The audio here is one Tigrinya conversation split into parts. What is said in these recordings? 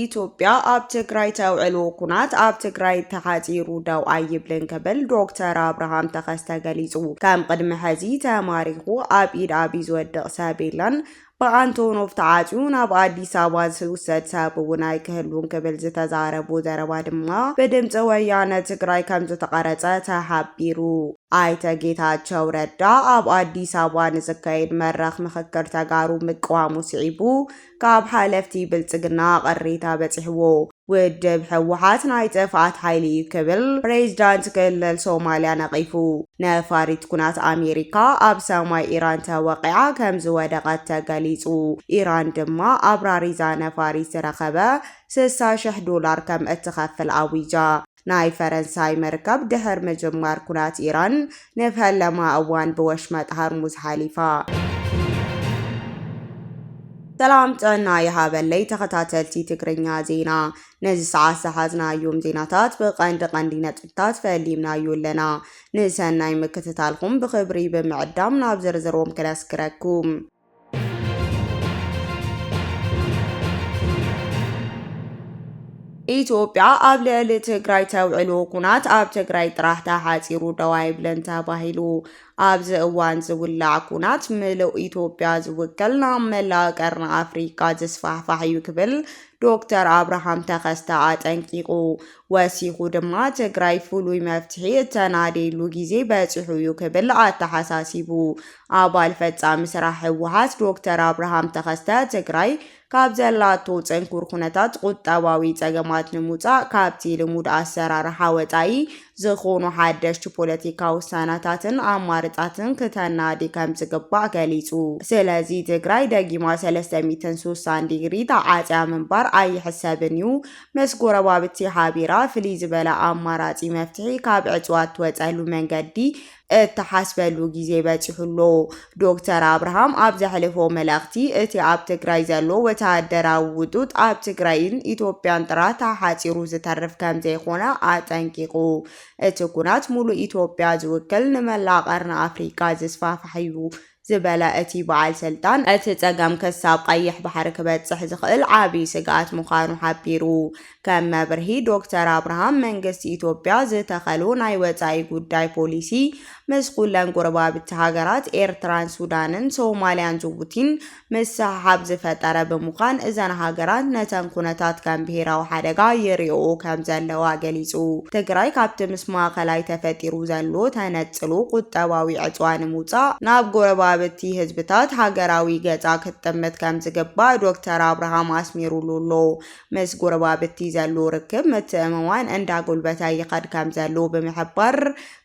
ኢትዮጵያ ኣብ ትግራይ ተውዕልዎ ኩናት ኣብ ትግራይ ተሓፂሩ ደው ኣይብልን ክብል ዶክተር ኣብርሃም ተኸስተ ገሊፁ። ከም ቅድሚ ሕዚ ተማሪኹ ኣብ ኢድ ኣብይ ዝወድቕ ሰብ የለን፣ ብኣንቶኖቭ ተዓፅዩ ናብ ኣዲስ ኣበባ ዝውሰድ ሰብ እውን ኣይክህሉን ክብል ዝተዛረቡ ዘረባ ድማ ብድምፂ ወያነ ትግራይ ከም ዝተቐረፀ ተሓቢሩ። ኣይተ ጌታቸው ረዳ ኣብ ኣዲስ ኣበባ ንዝካየድ መድረኽ ምኽክር ተጋሩ ምቅዋሙ ስዒቡ ካብ ሓለፍቲ ብልፅግና ቅሬታ በፂሕዎ ውድብ ህወሓት ናይ ጥፍኣት ሓይሊ እዩ ክብል ፕሬዚዳንት ክልል ሶማሊያ ነቒፉ። ነፋሪት ኩናት ኣሜሪካ ኣብ ሰማይ ኢራን ተወቒዓ ከም ዝወደቐት ተገሊጹ። ኢራን ድማ ኣብራሪዛ ነፋሪት ዝረኸበ ስሳ ሽሕ ዶላር ከም እትኸፍል ኣዊጃ። ናይ ፈረንሳይ መርከብ ድሕር ምጅማር ኩናት ኢራን ንፈለማ እዋን ብወሽመጥ ሃርሙዝ ሓሊፋ። ሰላም ጥዕና ይሃበለይ ተኸታተልቲ ትግርኛ ዜና ነዚ ሰዓት ዝሓዝናዮም ዜናታት ብቐንዲ ቀንዲ ነጥብታት ፈሊምናዩ ኣለና። ንሰናይ ምክትታልኩም ብኽብሪ ብምዕዳም ናብ ዝርዝሮም ክነስግረኩም። ኢትዮጵያ ኣብ ልዕሊ ትግራይ ተውዕሎ ኩናት ኣብ ትግራይ ጥራሕ ተሓፂሩ ደው ኣይብለን ተባሂሉ ኣብዚ እዋን ዝውላዕ ኩናት ምሉእ ኢትዮጵያ ዝውክል ናብ መላእ ቀርኒ ኣፍሪካ ዝስፋሕፋሕ እዩ ክብል ዶክተር ኣብርሃም ተኸስተ ኣጠንቂቑ። ወሲኹ ድማ ትግራይ ፍሉይ መፍትሒ እተናድየሉ ግዜ በፂሑ እዩ ክብል ኣተሓሳሲቡ። ኣባል ፈፃሚ ስራሕ ህወሓት ዶክተር ኣብርሃም ተኸስተ ትግራይ ካብ ዘላቶ ፅንኩር ኩነታት ቁጠባዊ ፀገማት ንምውፃእ ካብቲ ልሙድ ኣሰራርሓ ወፃኢ ዝኾኑ ሓደሽቲ ፖለቲካ ውሳናታትን ኣማርፃትን ክተናዲ ከም ዝግባእ ገሊፁ። ስለዚ ትግራይ ደጊማ 360 ዲግሪ ተዓፅያ ምንባር ኣይሕሰብን እዩ። ምስ ጎረባብቲ ሓቢራ ፍልይ ዝበለ ኣማራፂ መፍትሒ ካብ ዕፅዋ እትወፀሉ መንገዲ እትሓስበሉ ግዜ በፂሑ ኣሎ። ዶክተር ኣብርሃም ኣብ ዘሕለፎ መልእኽቲ እቲ ኣብ ትግራይ ዘሎ ወተሃደራዊ ውጡጥ ኣብ ትግራይን ኢትዮጵያን ጥራሕ ተሓፂሩ ዝተርፍ ከምዘይኾነ ኣጠንቂቑ። እቲ ኩናት ሙሉእ ኢትዮጵያ ዝውክል ንመላእ ቀርኒ ኣፍሪካ ዝስፋሕፋሕ እዩ ዝበለ እቲ በዓል ስልጣን፣ እቲ ፀገም ክሳብ ቐይሕ ባሕሪ ክበፅሕ ዝኽእል ዓብዪ ስግኣት ምዃኑ ሓቢሩ። ከም መብርሂ ዶክተር ኣብርሃም፣ መንግስቲ ኢትዮጵያ ዝተኸሎ ናይ ወፃኢ ጉዳይ ፖሊሲ ምስ ኩለን ጎረባብቲ ሃገራት ኤርትራን ሱዳንን ሶማሊያን ጅቡቲን ምስሕሓብ ዝፈጠረ ብምዃን እዘን ሃገራት ነተን ኩነታት ከም ብሄራዊ ሓደጋ ይሪኦኦ ከምዘለዋ ገሊፁ። ትግራይ ካብቲ ምስ ማእኸላይ ተፈጢሩ ዘሎ ተነ ዝነጽሉ ቁጠባዊ ዕጽዋ ንምውጻእ ናብ ጎረባብቲ ህዝብታት ሃገራዊ ገጻ ክትጥምት ከምዝግባእ ዶክተር ኣብርሃም ኣስሚሩሉ ኣሎ። ምስ ጎረባብቲ ዘሉ ርክብ ምትእምማን እንዳጎልበተ ይኸድ ከምዘሉ ብምሕባር፣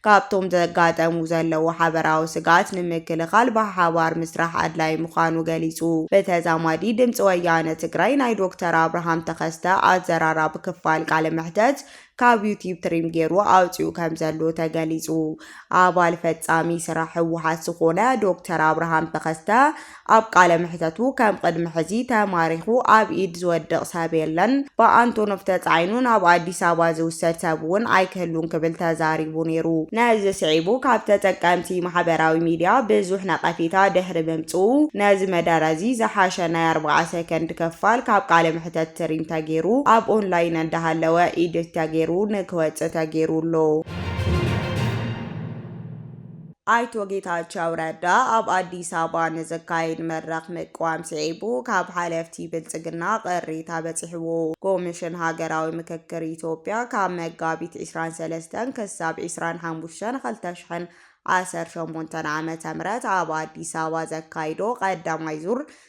ካብቶም ዘጋጠሙ ዘለዉ ሓበራዊ ስግኣት ንምክልኻል ብሓባር ምስራሕ ኣድላይ ምዃኑ ገሊጹ። ብተዛማዲ ድምጺ ወያነ ትግራይ ናይ ዶክተር ኣብርሃም ተኸስተ ኣዘራራቢ ክፋል ቃለ መሕተት ካብ ዩቲብ ትሪም ገይሩ ኣውፂኡ ከምዘሎ ተገሊፁ። ኣባል ፈፃሚ ስራሕ ህወሓት ዝኾነ ዶክተር ኣብርሃም ተኸስተ ኣብ ቃለ መሕተቱ ከም ቕድሚ ሕዚ ተማሪኹ ኣብ ኢድ ዝወድቕ ሰብ የለን፣ ብኣንቶኖቭ ተፃዒኑ ናብ ኣዲስ ኣበባ ዝውሰድ ሰብ እውን ኣይክህሉን ክብል ተዛሪቡ ነይሩ። ነዚ ስዒቡ ካብ ተጠቀምቲ ማሕበራዊ ሚዲያ ብዙሕ ነቐፌታ ድሕሪ ምምፅኡ ነዚ መደረ እዚ ዝሓሸ ናይ ኣርብዓ ሰከንድ ክፋል ካብ ቃለ ሕተት ትሪም ተጌሩ ኣብ ኦንላይን እንዳሃለወ ኢድት ተጌሩ ንክወፅእ ተጌሩ ኣሎ። ኣይቶ ጌታቸው ረዳ ኣብ ኣዲስ ኣበባ ንዝካየድ መድረኽ ምቅዋም ስዒቡ ካብ ሓለፍቲ ብልፅግና ቅሬታ በፂሕዎ። ኮሚሽን ሃገራዊ ምክክር ኢትዮጵያ ካብ መጋቢት 23 ክሳብ 25 2018 ዓ.ም ኣብ ኣዲስ ኣበባ ዘካይዶ ቀዳማይ ዙር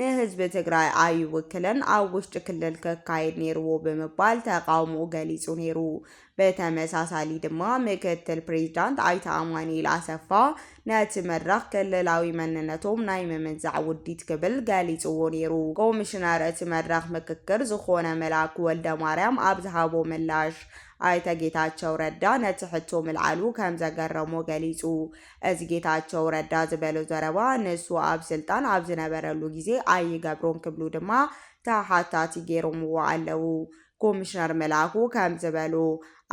ንህዝቢ ትግራይ ኣይውክልን፣ ኣብ ውሽጢ ክልል ክካየድ ነይርዎ ብምባል ተቓውሞኡ ገሊጹ ነይሩ። ብተመሳሳሊ ድማ ምክትል ፕሬዚዳንት ኣይተ ኣማኑኤል ኣሰፋ ነቲ መድረኽ ክልላዊ መንነቶም ናይ ምምንዛዕ ውዲት ክብል ገሊጽዎ ነይሩ። ኮሚሽነር እቲ መድረኽ ምክክር ዝኾነ መላኩ ወልደማርያም ኣብ ዝሃቦ ምላሽ፣ ኣይተ ጌታቸው ረዳ ነቲ ሕቶ ምልዓሉ ከምዘገረሞ ገሊጹ። እዚ ጌታቸው ረዳ ዝበሎ ዘረባ ንሱ ኣብ ስልጣን ኣብ ዝነበረሉ ግዜ ኣይገብሮን ክብሉ ድማ ተሓታቲ ገይሮምዎ ኣለዉ። ኮሚሽነር መላኩ ከም ዝበሉ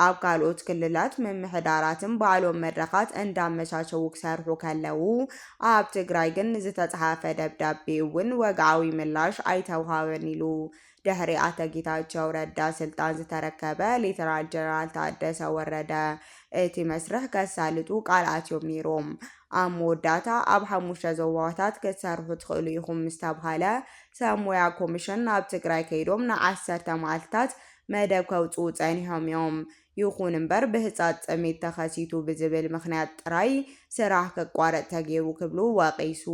ኣብ ካልኦት ክልላት ምምሕዳራትን ባዕሎም መድረኻት እንዳመቻቸዉ ክሰርሑ ከለዉ ኣብ ትግራይ ግን ንዝተፅሓፈ ደብዳቤ እውን ወግዓዊ ምላሽ ኣይተውሃበን ኢሉ ድሕሪ ኣቶ ጌታቸው ረዳ ስልጣን ዝተረከበ ሌተናል ጀነራል ታደሰ ወረደ እቲ መስርሕ ከሳልጡ ቃል ኣትዮም ነይሮም። ኣብ መወዳእታ ኣብ ሓሙሽተ ዞባታት ክትሰርሑ ትኽእሉ ኢኹም ምስ ተብሃለ ሰብ ሞያ ኮሚሽን ናብ ትግራይ ከይዶም ንዓሰርተ መዓልትታት መደብ ከውፅኡ ፀኒሖም እዮም። ይኹን እምበር ብህፃፅ ጥሜት ተኸሲቱ ብዝብል ምኽንያት ጥራይ ስራሕ ክቋረፅ ተገይሩ ክብሉ ወቒሱ።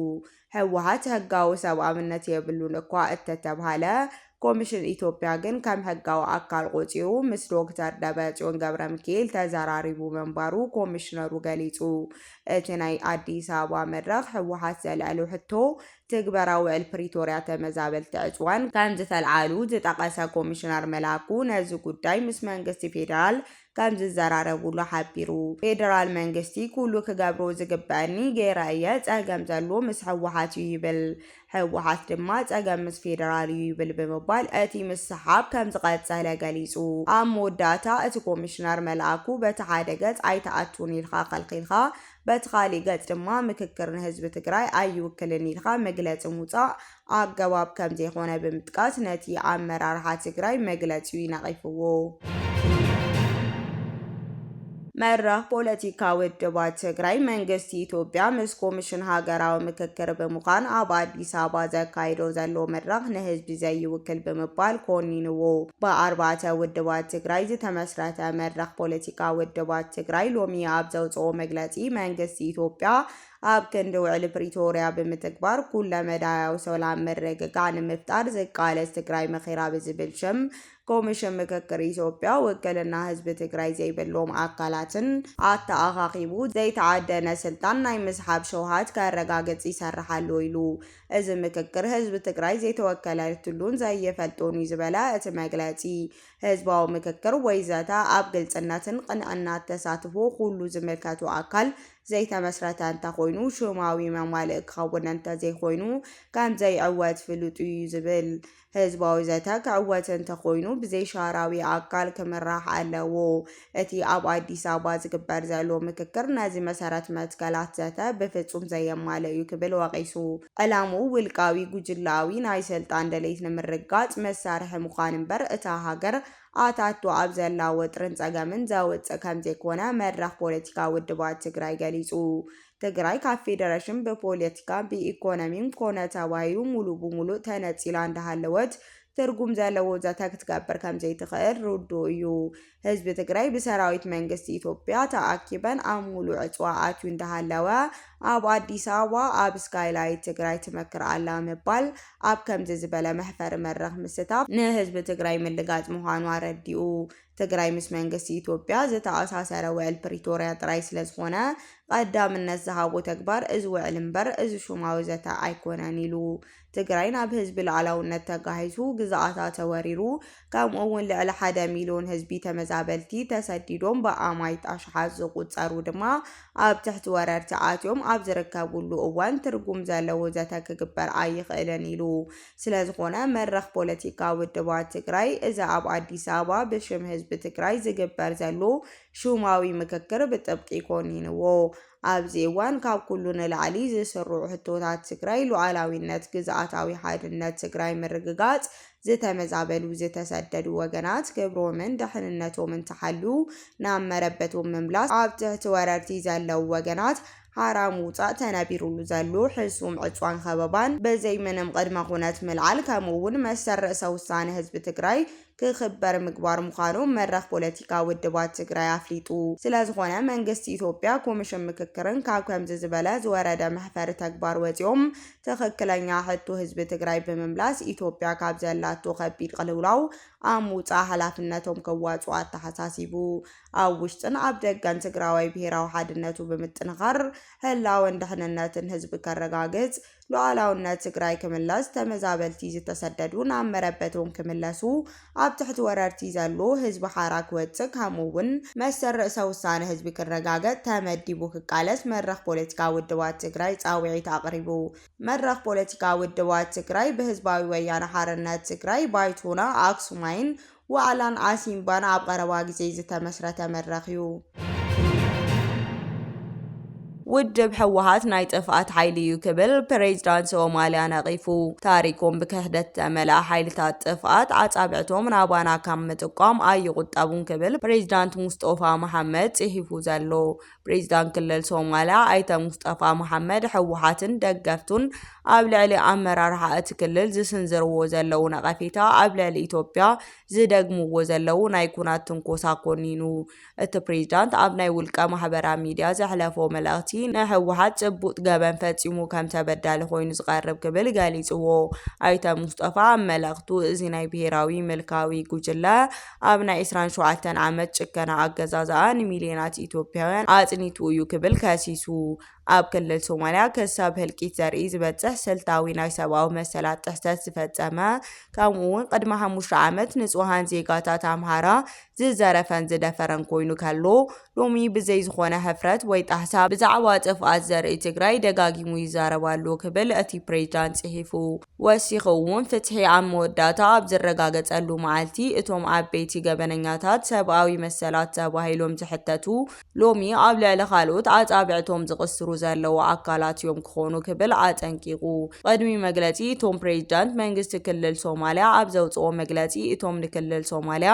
ህወሓት ሕጋዊ ሰብኣውነት የብሉን እኳ እተተብሃለ፣ ኮሚሽን ኢትዮጵያ ግን ከም ሕጋዊ ኣካል ቖፂሩ ምስ ዶክተር ደብረፅዮን ገብረሚካኤል ተዘራሪቡ ምንባሩ ኮሚሽነሩ ገሊፁ። እቲ ናይ ኣዲስ ኣበባ መድረኽ ህወሓት ዘልዐሎ ሕቶ ትግበራ ውዕል ፕሪቶርያ ተመዛበልቲ ዕፅዋን ከምዝተልዓሉ ዝጠቐሰ ኮሚሽነር መላኩ ነዚ ጉዳይ ምስ መንግስቲ ፌዴራል ከምዝዘራረቡሉ ሓቢሩ። ፌደራል መንግስቲ ኩሉ ክገብሮ ዝግበኣኒ ገይረ እየ፣ ፀገም ዘሎ ምስ ህወሓት እዩ ይብል። ህወሓት ድማ ፀገም ምስ ፌደራል እዩ ይብል ብምባል እቲ ምስሕሓብ ከምዝቐፀለ ገሊፁ። ኣብ መወዳእታ እቲ ኮሚሽነር መልኣኩ በቲ ሓደ ገፅ ኣይትኣቱን ኢልካ ከልኪልካ በቲ ካሊእ ገፅ ድማ ምክክር ንህዝቢ ትግራይ ኣይውክልን ኢልካ መግለፂ ምውፃእ ኣገባብ ከምዘይኾነ ብምጥቃስ ነቲ ኣመራርሓ ትግራይ መግለጺኡ ነቒፍዎ። መድረኽ ፖለቲካ ውድባት ትግራይ መንግስቲ ኢትዮጵያ ምስ ኮሚሽን ሃገራዊ ምክክር ብምዃን ኣብ ኣዲስ ኣበባ ዘካይዶ ዘሎ መድረኽ ንህዝቢ ዘይውክል ብምባል ኮኒንዎ። ብኣርባዕተ ውድባት ትግራይ ዝተመስረተ መድረኽ ፖለቲካ ውድባት ትግራይ ሎሚ ኣብ ዘውፅኦ መግለፂ መንግስቲ ኢትዮጵያ ኣብ ክንዲ ውዕሊ ፕሪቶርያ ብምትግባር ኩለ መዳያዊ ሰላም ምርግጋዕ ንምፍጣር ዝቃለስ ትግራይ መኺራ ብዝብል ሽም ኮሚሽን ምክክር ኢትዮጵያ ውክልና ህዝቢ ትግራይ ዘይብሎም ኣካላትን ኣተኣኻኺቡ ዘይተዓደነ ስልጣን ናይ ምስሓብ ሸውሃት ከረጋግፅ ይሰርሕ ኣሎ ኢሉ። እዚ ምክክር ህዝቢ ትግራይ ዘይተወከለትሉን ዘይፈልጦን እዩ ዝበለ እቲ መግለፂ፣ ህዝባዊ ምክክር ወይ ዘተ ኣብ ግልፅነትን ቕንዕናት ተሳትፎ ኩሉ ዝምልከቶ ኣካል ዘይተመስረተ እንተኾይኑ ሽማዊ መማልኢ ክኸውን እንተዘይኮይኑ ከምዘይዕወት ፍሉጥ እዩ ዝብል። ህዝባዊ ዘተ ክዕወት እንተኾይኑ ብዘይሻራዊ ኣካል ክምራሕ ኣለዎ። እቲ ኣብ ኣዲስ ኣበባ ዝግበር ዘሎ ምክክር ነዚ መሰረት መትከላት ዘተ ብፍፁም ዘየማልእ እዩ ክብል ወቒሱ። ዕላምኡ ውልቃዊ ጉጅለኣዊ ናይ ስልጣን ድሌት ንምርግጋፅ መሳርሒ ምዃን እምበር እታ ሃገር ኣታቱ ኣብ ዘላ ወጥርን ፀገምን ዘውፅእ ከምዘይኮነ መድረኽ ፖለቲካ ውድባት ትግራይ ገሊፁ። ትግራይ ካብ ፌደሬሽን ብፖለቲካ፣ ብኢኮኖሚም ኮነ ተባሂሉ ሙሉእ ብሙሉእ ተነፂላ እንዳሃለወት ትርጉም ዘለዎ ዘተ ክትገብር ከምዘይትኽእል ርዱእ እዩ። ህዝቢ ትግራይ ብሰራዊት መንግስቲ ኢትዮጵያ ተኣኪበን ኣብ ሙሉእ ዕፅዋ ኣትዩ እንዳሃለወ ኣብ ኣዲስ ኣበባ ኣብ ስካይላይት ትግራይ ትመክር ኣላ ምባል ኣብ ከምዚ ዝበለ መሕፈሪ መድረኽ ምስታፍ ንህዝቢ ትግራይ ምልጋፅ ምዃኑ ኣረዲኡ። ትግራይ ምስ መንግስቲ ኢትዮጵያ ዝተኣሳሰረ ውዕል ፕሪቶርያ ጥራይ ስለዝኾነ ቐዳምነት ዝሃቦ ተግባር እዚ ውዕል እምበር እዚ ሹማዊ ዘተ ኣይኮነን ኢሉ። ትግራይ ናብ ህዝቢ ሉኣላውነት ተጋሂሱ፣ ግዝኣታ ተወሪሩ፣ ከምኡ እውን ልዕሊ ሓደ ሚልዮን ህዝቢ ተመዛበልቲ ተሰዲዶም ብኣማይት ኣሽሓት ዝቑፀሩ ድማ ኣብ ትሕቲ ወረርቲ ኣትዮም ኣብ ዝርከብሉ እዋን ትርጉም ዘለዎ ዘተ ክግበር ኣይኽእልን ኢሉ። ስለዝኾነ መድረኽ ፖለቲካ ውድባት ትግራይ እዚ ኣብ ኣዲስ ኣበባ ብሽም ህዝቢ ትግራይ ዝግበር ዘሎ ሹማዊ ምክክር ብጥብቂ ኮኒንዎ። ኣብዚ እዋን ካብ ኩሉ ንላዕሊ ዝስርዑ ሕቶታት ትግራይ ሉኣላዊነት፣ ግዝኣታዊ ሓድነት ትግራይ ምርግጋፅ፣ ዝተመዛበሉ ዝተሰደዱ ወገናት ክብሮምን ደሕንነቶምን ተሓሉ ናብ መረበቶም ምምላስ፣ ኣብ ትሕቲ ወረርቲ ዘለው ወገናት ሓራ ምውፃእ፣ ተነቢሩሉ ዘሎ ሕሱም ዕፅዋን ኸበባን ብዘይ ምንም ቕድመ ኹነት ምልዓል ከምኡ እውን መሰል ርእሰ ውሳነ ህዝቢ ትግራይ ክኽበር ምግባር ምዃኑ መድረኽ ፖለቲካ ውድባት ትግራይ ኣፍሊጡ። ስለዝኾነ መንግስቲ ኢትዮጵያ ኮሚሽን ምክክርን ካብ ከምዚ ዝበለ ዝወረደ መሕፈሪ ተግባር ወፂኦም ትኽክለኛ ሕቶ ህዝቢ ትግራይ ብምምላስ ኢትዮጵያ ካብ ዘላቶ ከቢድ ቅልውላው ኣብ ምውፃእ ሓላፍነቶም ከዋፅኡ ኣተሓሳሲቡ። ኣብ ውሽጥን ኣብ ደገን ትግራዋይ ብሄራዊ ሓድነቱ ብምጥንኻር ህላወን ድሕንነትን ህዝቢ ከረጋግፅ ሉኣላውነት ትግራይ ክምለስ፣ ተመዛበልቲ ዝተሰደዱ ናብ መረበቶም ክምለሱ፣ ኣብ ትሕቲ ወረርቲ ዘሎ ህዝቢ ሓራ ክወፅእ ከምኡ እውን መሰል ርእሰ ውሳነ ህዝቢ ክረጋገፅ ተመዲቡ ክቃለስ መድረኽ ፖለቲካ ውድባት ትግራይ ፃውዒት ኣቕሪቡ። መድረኽ ፖለቲካ ውድባት ትግራይ ብህዝባዊ ወያነ ሓርነት ትግራይ ባይቶና ኣክሱማይን ዋዕላን ዓሲምባን ኣብ ቐረባ ግዜ ዝተመስረተ መድረኽ እዩ። ውድብ ህወሓት ናይ ጥፍኣት ሓይሊ እዩ ክብል ፕሬዚዳንት ሶማሊያ ነቒፉ። ታሪኮም ብክሕደት ዝተመልኣ ሓይልታት ጥፍኣት ኣጻብዕቶም ናባና ካብ ምጥቋም ኣይቑጠቡን ክብል ፕሬዚዳንት ሙስጦፋ መሓመድ ጽሒፉ ዘሎ ፕሬዚዳንት ክልል ሶማልያ ኣይተ ሙስጠፋ መሓመድ ህወሓትን ደገፍቱን ኣብ ልዕሊ ኣመራርሓ እቲ ክልል ዝስንዝርዎ ዘለዉ ነቐፌታ ኣብ ልዕሊ ኢትዮጵያ ዝደግምዎ ዘለዉ ናይ ኩናት ትንኮሳ ኮኒኑ። እቲ ፕሬዚዳንት ኣብ ናይ ውልቀ ማሕበራ ሚዲያ ዘሕለፎ መልእኽቲ ንህወሓት ጭቡጥ ገበን ፈፂሙ ከም ተበዳሊ ኮይኑ ዝቐርብ ክብል ገሊፅዎ። ኣይተ ሙስጠፋ ኣብ መልእኽቱ እዚ ናይ ብሄራዊ ምልካዊ ጉጅለ ኣብ ናይ ዕስራን ሸውዓተን ዓመት ጭከና ኣገዛዝኣ ንሚልዮናት ኢትዮጵያውያን ኣጽኒቱ እዩ ክብል ከሲሱ። ኣብ ክልል ሶማልያ ክሳብ ህልቂት ዘርኢ ዝበጽሕ ስልታዊ ናይ ሰብኣዊ መሰላት ጥሕሰት ዝፈጸመ ከምኡ'ውን ቅድሚ ሓሙሽተ ዓመት ንጹሃን ዜጋታት ኣምሓራ ዝዘረፈን ዝደፈረን ኮይኑ ከሎ ሎሚ ብዘይ ዝኾነ ሕፍረት ወይ ጣህሳ ብዛዕባ ጥፍኣት ዘርኢ ትግራይ ደጋጊሙ ይዛረብ ኣሎ ክብል እቲ ፕሬዝዳንት ጽሒፉ። ወሲኹ'ውን ፍትሒ ኣብ መወዳእታ ኣብ ዝረጋገጸሉ መዓልቲ እቶም ዓበይቲ ገበነኛታት ሰብኣዊ መሰላት ተባሂሎም ዝሕተቱ ሎሚ ኣብ ልዕሊ ካልኦት ኣጻብዕቶም ዝቕስሩ ዘለዉ ኣካላት እዮም ክኾኑ ክብል ኣጠንቂቑ። ቕድሚ መግለጺ እቶም ፕሬዚዳንት መንግስቲ ክልል ሶማሊያ ኣብ ዘውጽኦ መግለጺ እቶም ንክልል ሶማሊያ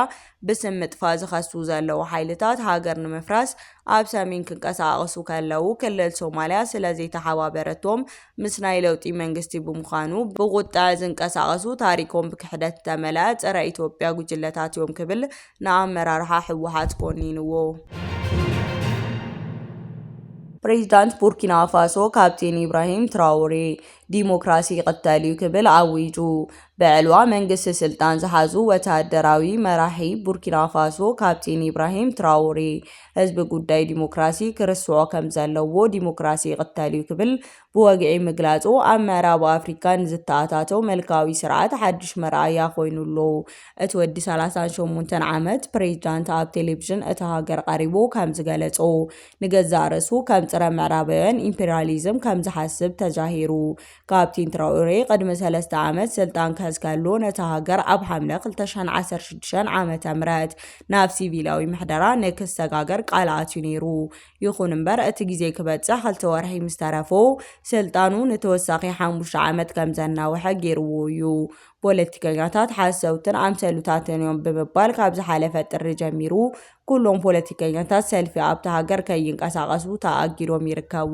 ብስም ምጥፋእ ዝኸሱ ዘለዉ ሓይልታት ሃገር ንምፍራስ ኣብ ሰሜን ክንቀሳቐሱ ከለዉ ክልል ሶማሊያ ስለዘይተሓባበረቶም ምስ ናይ ለውጢ መንግስቲ ብምዃኑ ብቑጠዐ ዝንቀሳቐሱ ታሪኮም ብክሕደት ዝተመልኣ ፀረ ኢትዮጵያ ጉጅለታት እዮም ክብል ንኣመራርሓ ህወሓት ኮኒንዎ። ፕሬዚዳንት ቡርኪናፋሶ ካፕቴን ኢብራሂም ትራውሬ ዲሞክራሲ ይቕተል እዩ ክብል ኣዊጁ። ብዕልዋ መንግስቲ ስልጣን ዝሓዙ ወተሃደራዊ መራሒ ቡርኪናፋሶ ካፕቴን ኢብራሂም ትራውሬ ህዝቢ ጉዳይ ዲሞክራሲ ክርስዖ ከም ዘለዎ ዲሞክራሲ ይቕተል እዩ ክብል ብወግዒ ምግላጹ ኣብ ምዕራብ ኣፍሪካ ንዝተኣታተው መልካዊ ስርዓት ሓድሽ መርኣያ ኮይኑ ኣሎ። እቲ ወዲ ሰላሳን ሸሞንተን ዓመት ፕሬዚዳንት ኣብ ቴሌቪዥን እታ ሃገር ቐሪቡ ከም ዝገለጾ ንገዛእ ርእሱ ከም ጽረ ምዕራባውያን ኢምፔሪያሊዝም ከም ዝሓስብ ተጃሂሩ ካፕቲን ትራኦሬ ቅድሚ ሰለስተ ዓመት ስልጣን ክሕዝ ከሎ ነታ ሃገር ኣብ ሓምለ 2016 ዓ ም ናብ ሲቪላዊ ምሕደራ ንክሰጋገር ቃል ኣትዩ ነይሩ። ይኹን እምበር እቲ ግዜ ክበጽሕ ክልተ ወርሒ ምስ ተረፎ ስልጣኑ ንተወሳኺ ሓሙሽተ ዓመት ከም ዘናውሐ ገይርዎ እዩ። ፖለቲከኛታት ሓሰውትን ኣምሰሉታትን እዮም ብምባል ካብ ዝሓለፈ ጥሪ ጀሚሩ ኩሎም ፖለቲከኛታት ሰልፊ ኣብታ ሃገር ከይንቀሳቐሱ ተኣጊዶም ይርከቡ።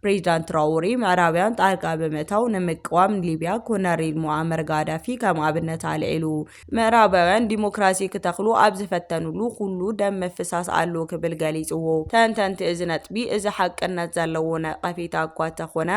ፕሬዚዳንት ትራኦሬ ምዕራብያን ጣልቃ ብምእታው ንምቅዋም ሊቢያ ኮነሬል ሙኣመር ጋዳፊ ከም ኣብነት ኣልዒሉ። ምዕራባውያን ዲሞክራሲ ክተኽሉ ኣብ ዝፈተኑሉ ኩሉ ደም ምፍሳስ ኣሎ ክብል ገሊፅዎ። ተንተንቲ እዚ ነጥቢ እዚ ሓቅነት ዘለዎ ነቐፌታ እኳ ተኾነ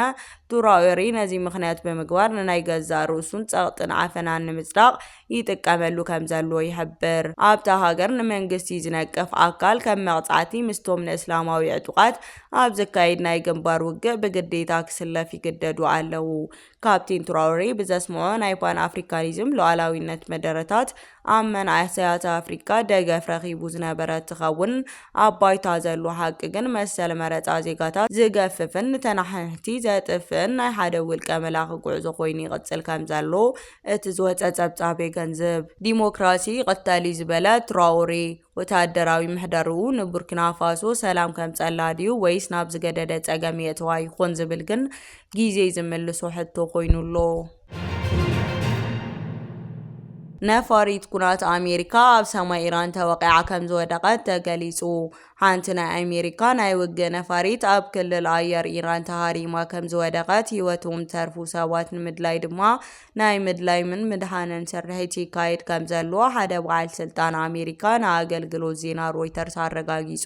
ትራኦሬ ነዚ ምኽንያት ብምግባር ንናይ ገዛእ ርእሱን ፀቕጥን ዓፈናን ንምፅዳቕ ይጥቀመሉ ከምዘሎ ይሕብር። ኣብታ ሃገር ንመንግስቲ ዝነቅፍ ኣካል ከም መቕጻዕቲ ምስቶም ንእስላማዊ ዕጡቓት ኣብ ዝካየድ ናይ ግንባር ውግእ ብግዴታ ክስለፍ ይግደዱ ኣለዉ። ካፕቴን ትራውሬ ብዘስምዖ ናይ ፓን ኣፍሪካኒዝም ሉኣላዊነት መደረታት ኣብ መናእሰያት ኣፍሪካ ደገፍ ረኺቡ ዝነበረ ትኸውን ኣብ ባይታ ዘሎ ሓቂ ግን መሰል መረፃ ዜጋታት ዝገፍፍን ንተነሓንሕቲ ዘጥፍእን ናይ ሓደ ውልቀ መላኺ ጉዕዞ ኮይኑ ይቕፅል ከምዘሎ እቲ ዝወጸ ጸብጻብ የገንዝብ። ዲሞክራሲ ይቕተል እዩ ዝበለ ትራኦሬ፣ ወተሃደራዊ ምሕደርኡ ንቡርኪናፋሶ ሰላም ከምጸላ ድዩ ወይስ ናብ ዝገደደ ጸገም የእትዋ ይኾን ዝብል ግን ግዜ ዝምልሶ ሕቶ ኮይኑ ኣሎ። ነፋሪት ኩናት ኣሜሪካ ኣብ ሰማይ ኢራን ተወቒዓ ከምዝወደቐት ተገሊጹ። ሓንቲ ናይ ኣሜሪካ ናይ ውግእ ነፋሪት ኣብ ክልል ኣየር ኢራን ተሃሪማ ከም ዝወደቐት ህይወቶም ዝተርፉ ሰባት ንምድላይ ድማ ናይ ምድላይምን ምድሓንን ስርሒት ይካየድ ከም ዘሎ ሓደ በዓል ስልጣን ኣሜሪካ ንኣገልግሎት ዜና ሮይተርስ ኣረጋጊጹ።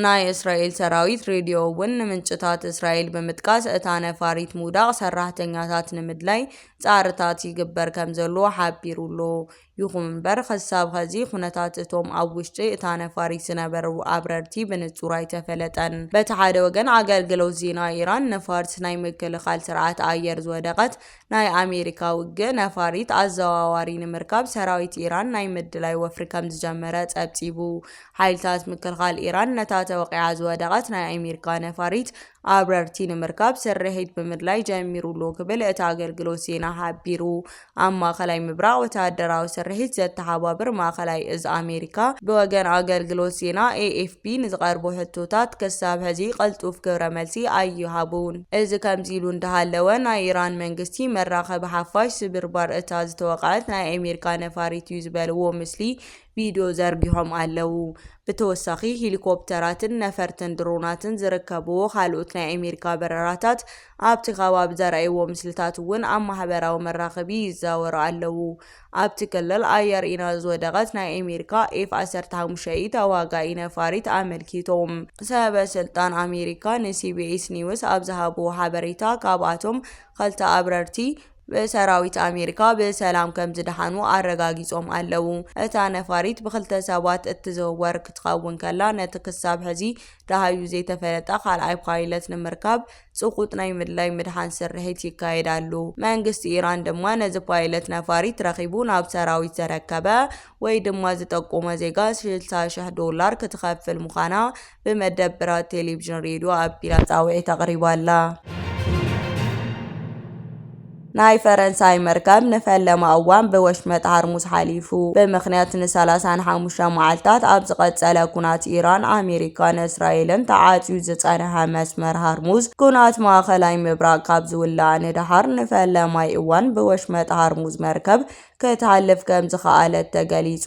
ናይ እስራኤል ሰራዊት ሬድዮ እውን ንምንጭታት እስራኤል ብምጥቃስ እታ ነፋሪት ምውዳቕ ሰራሕተኛታት ንምድላይ ጻዕርታት ይግበር ከም ዘሎ ሓቢሩ ኣሎ። ይኹን'ምበር ኽሳብ ኸዚ ኹነታት እቶም ኣብ ውሽጢ እታ ነፋሪት ዝነበሩ ኣብረርቲ ብንጹር ኣይተፈለጠን። በቲ ሓደ ወገን ኣገልግሎት ዜና ኢራን ንፋርስ ናይ ምክልኻል ስርዓት ኣየር ዝወደቐት ናይ ኣሜሪካ ውግእ ነፋሪት ኣዘዋዋሪ ንምርካብ ሰራዊት ኢራን ናይ ምድላይ ወፍሪ ከምዝጀመረ ጸብጺቡ። ሓይልታት ምክልኻል ኢራን ነታ ተወቒዓ ዝወደቐት ናይ ኣሜሪካ ነፋሪት ኣብረርቲ ንምርካብ ስርሒት ብምድላይ ጀሚሩ'ሎ ክብል እቲ ኣገልግሎት ዜና ሓቢሩ። ኣብ ማእከላይ ምብራቕ ወተሃደራዊ ስርሒት ዘተሓባብር ማእከላይ እዝ ኣሜሪካ፣ ብወገን ኣገልግሎት ዜና ኤኤፍፒ ንዝቐርቡ ሕቶታት ክሳብ ሕዚ ቅልጡፍ ግብረ መልሲ ኣይሃቡን። እዚ ከምዚ ኢሉ እንዳሃለወ፣ ናይ ኢራን መንግስቲ መራኸቢ ሓፋሽ ስብርባር እታ ዝተወቕዐት ናይ ኣሜሪካ ነፋሪት'ዩ ዝበልዎ ምስሊ ቪድዮ ዘርጊሖም ኣለው። ብተወሳኺ ሂሊኮፕተራትን ነፈርትን ድሮናትን ዝርከብዎ ካልኦት ናይ ኣሜሪካ በረራታት ኣብቲ ከባቢ ዘርኣይዎ ምስልታት እውን ኣብ ማሕበራዊ መራኸቢ ይዛወሩ ኣለው። ኣብቲ ክልል ኣየር ኢና ዝወደቐት ናይ ኣሜሪካ ኤፍ ዓሰርተ ሓሙሽተ ኢ ተዋጋኢ ነፋሪት ኣመልኪቶም ሰበ ስልጣን ኣሜሪካ ንሲቢኤስ ኒውስ ኣብ ዝሃብዎ ሓበሬታ ካብኣቶም ክልተ ኣብረርቲ ብሰራዊት ኣሜሪካ ብሰላም ከምዝደሓኑ ኣረጋጊጾም ኣለዉ። እታ ነፋሪት ብክልተ ሰባት እትዝውወር ክትኸውን ከላ፣ ነቲ ክሳብ ሕዚ ደሃዩ ዘይተፈለጠ ካልኣይ ፓይለት ንምርካብ ጽቑጥ ናይ ምድላይ ምድሓን ስርሒት ይካየድ ኣሉ። መንግስቲ ኢራን ድማ ነዚ ፓይለት ነፋሪት ረኺቡ ናብ ሰራዊት ዘረከበ ወይ ድማ ዝጠቆመ ዜጋ ሽልሳ ሽሕ ዶላር ክትኸፍል ምዃና ብመደብራት ቴሌቪዥን ሬድዮ ኣቢላ ጻውዒት ኣቕሪባ ኣላ። ናይ ፈረንሳይ መርከብ ንፈለማ እዋን ብወሽመጥ ሃርሙዝ ሓሊፉ ብምኽንያት ንሰላሳን ሓሙሽተ መዓልታት ኣብ ዝቐጸለ ኩናት ኢራን ኣሜሪካን እስራኤልን ተዓጽዩ ዝጸንሐ መስመር ሃርሙዝ ኩናት ማእኸላይ ምብራቕ ካብ ዝውላዕ ንደሓር ንፈለማይ እዋን ብወሽመጥ ሃርሙዝ መርከብ ክትሃልፍ ከምዝኸኣለት ተገሊጹ።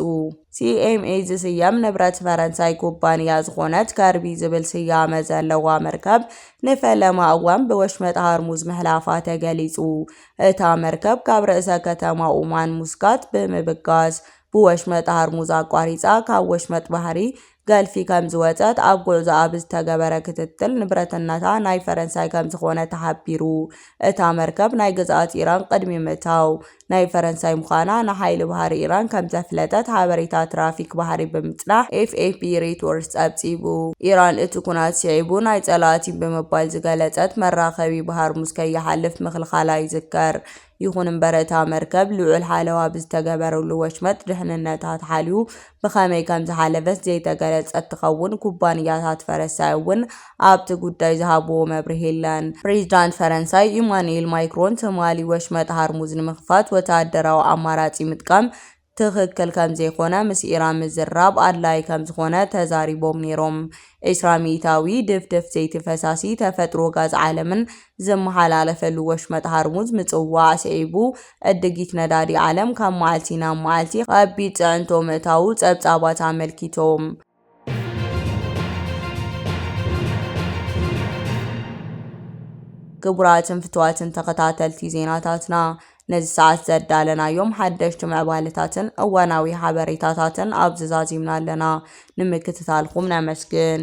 ሲኤምኤ ዝስየም ንብረት ፈረንሳይ ኩባንያ ዝኾነት ከርቢ ዝብል ስያመ ዘለዋ መርከብ ንፈለማ እዋን ብወሽመጥ ሃርሙዝ ምሕላፋ ተገሊጹ። እታ መርከብ ካብ ርእሰ ከተማ ኡማን ሙስካት ብምብጋስ ብወሽመጥ ሃርሙዝ ኣቋሪጻ ካብ ወሽመጥ ባህሪ ገልፊ ከምዝወፀት ኣብ ጉዕዞኣ ብዝተገበረ ክትትል ንብረትነታ ናይ ፈረንሳይ ከምዝኾነ ተሓቢሩ። እታ መርከብ ናይ ግዝኣት ኢራን ቅድሚ ምእታው ናይ ፈረንሳይ ምዃና ንሓይሊ ባህሪ ኢራን ከምዘፍለጠት ሓበሬታ ትራፊክ ባህሪ ብምፅናሕ ኤፍኤፒ ሬቶርስ ፀብፂቡ። ኢራን እቲ ኩናት ስዒቡ ናይ ፀላእቲ ብምባል ዝገለፀት መራኸቢ ባህርሙዝ ከይሓልፍ ምኽልኻላ ይዝከር። ይኹን እምበር እታ መርከብ ልዑል ሓለዋ ብዝተገበረሉ ወሽመጥ ድሕንነታ ተሓልዩ ብኸመይ ከምዝሓለፈት ዘይተገለፀት ትኸውን። ኩባንያታት ፈረሳይ እውን ኣብቲ ጉዳይ ዝሃብዎ መብርሂ የለን። ፕሬዚዳንት ፈረንሳይ ኢማኑኤል ማይክሮን ትማሊ ወሽመጥ ሃርሙዝ ንምኽፋት ወተሃደራዊ ኣማራፂ ምጥቃም ትኽክል ከምዘይኮነ ምስ ኢራን ምዝርራብ ኣድላዪ ከምዝኾነ ተዛሪቦም ነይሮም። ዕስራ ሚኢታዊ ድፍድፍ ዘይቲ ፈሳሲ ተፈጥሮ ጋዝ ዓለምን ዝመሓላለፈሉ ወሽመጥ ሃርሙዝ ምጽዋዕ ስዒቡ ዕድጊት ነዳዲ ዓለም ካብ መዓልቲ ናብ መዓልቲ ኣብ ቢት ጽዕንቶ ምእታዉ ጸብጻባት ኣመልኪቶም። ክቡራትን ፍትዋትን ተኸታተልቲ ዜናታትና ነዚ ሰዓት ዘዳለናዮም ሓደሽቲ ምዕባለታትን እዋናዊ ሓበሬታታትን ኣብዚ ዛዚምና ኣለና። ንምክትታልኩም ነመስግን።